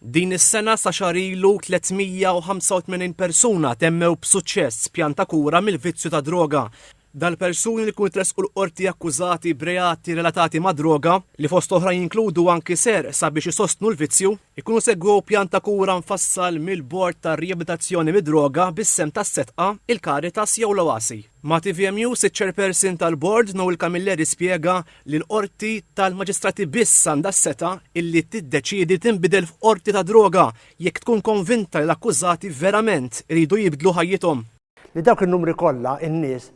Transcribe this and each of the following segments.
Din is-sena sa xahar ilu 385 persuna temmew b'suċċess pjan ta' kura mill-vizzju tad-droga. Dal-persuni li jkunu tressqu l-Qorti akkużati b'reati relatati mad-droga, li fost oħrajn jinkludu anki serq sabiex isostnu l-vizzju, ikunu segwew pjan ta' kura mfassal mill-Bord tar-Riabilitazzjoni mid-Droga bis-sehem tas-Setqa, il-Caritas jew l-Oasi. Ma' tvm News, iċ-Chairperson tal-Bord, Noel Camilleri spjega li l-Qorti tal-Maġistrati biss għandha s-setgħa illi tiddeċiedi tinbidel f'Qorti tad-Droga jekk tkun konvinta li l-akkużati verament iridu jibdlu ħajjithom. Li dawk in-numri kollha n-nies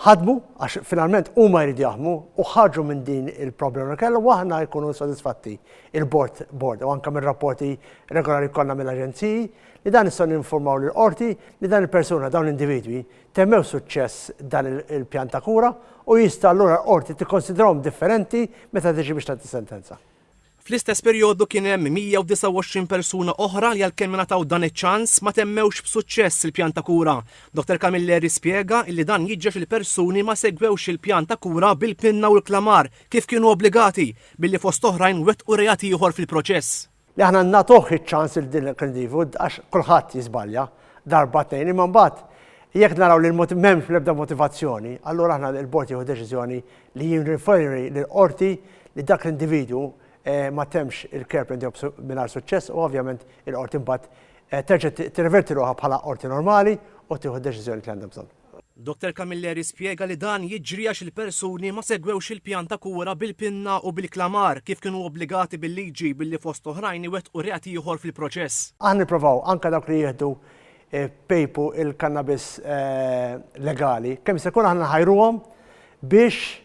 ħadmu għax finalment huma jridu jaħdmu u ħarġu minn din il-problema li kellhom u aħna jkunu sodisfatti il-Bord Bord u anke mir-rapporti regolari jkollna mill-aġenziji li dan nistgħu ninfurmaw lill-Qorti li dan il-persuna dawn l-individwi Temmew b'suċċess dan il-pjan ta' kura u jista' allura l-Qorti tikkonsidrahom differenti meta tiġi biex tgħaddi sentenza. Fl-istess perjodu kien hemm 129 persuna oħra li għalkemm ingħataw dan iċ-ċans ma temmewx b'suċċess il-pjan ta' kura. Dottor Camilleri spjega li dan jiġri għax il-persuni ma segwewx il-pjan ta' kura bil-pinna u l-klamar kif kienu obbligati, billi fost oħrajn wettqu reat ieħor fil-proċess. Li aħna nagħtuh iċ-ċans lil din l-inkldivu għax kulħadd jiżbalja darba tnejn imma mbagħad jekk naraw li l-moti m'hemmx l-ebda motivazzjoni allura aħna l-bord jieħu deċiżjoni li jirriferi lill-qorti li dak l-individwu ma temmx il-care plan tiegħu mingħajr suċċess u ovvjament il-qorti mbagħad terġa' tirreverti ruħha bħala qorti normali u tieħu d-deċiżjoni li għandha bżonn. Dottor Camilleri spjega li dan jiġri għax il-persuni ma segwewx il-pjan ta' kura bil-pinna u bil-klamar kif kienu obbligati bil-liġi billi fost oħrajn iwettqu reat ieħor fil-proċess. Aħna nipprovaw anke dawk li jieħdu pejpu il-kannabis legali, kemm jista' jkun aħna nħajruhom biex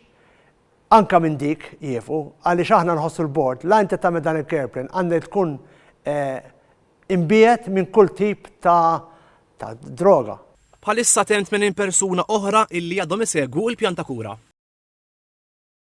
Anke minn dik jieqfu, għaliex aħna nħossu l-Bord, l-entità minn dan il-Careplane għandha tkun imbiegħed minn kull tip ta' droga. Bħalissa hemm 80 persuna oħra illi għadhom isegwu l-pjan ta' kura.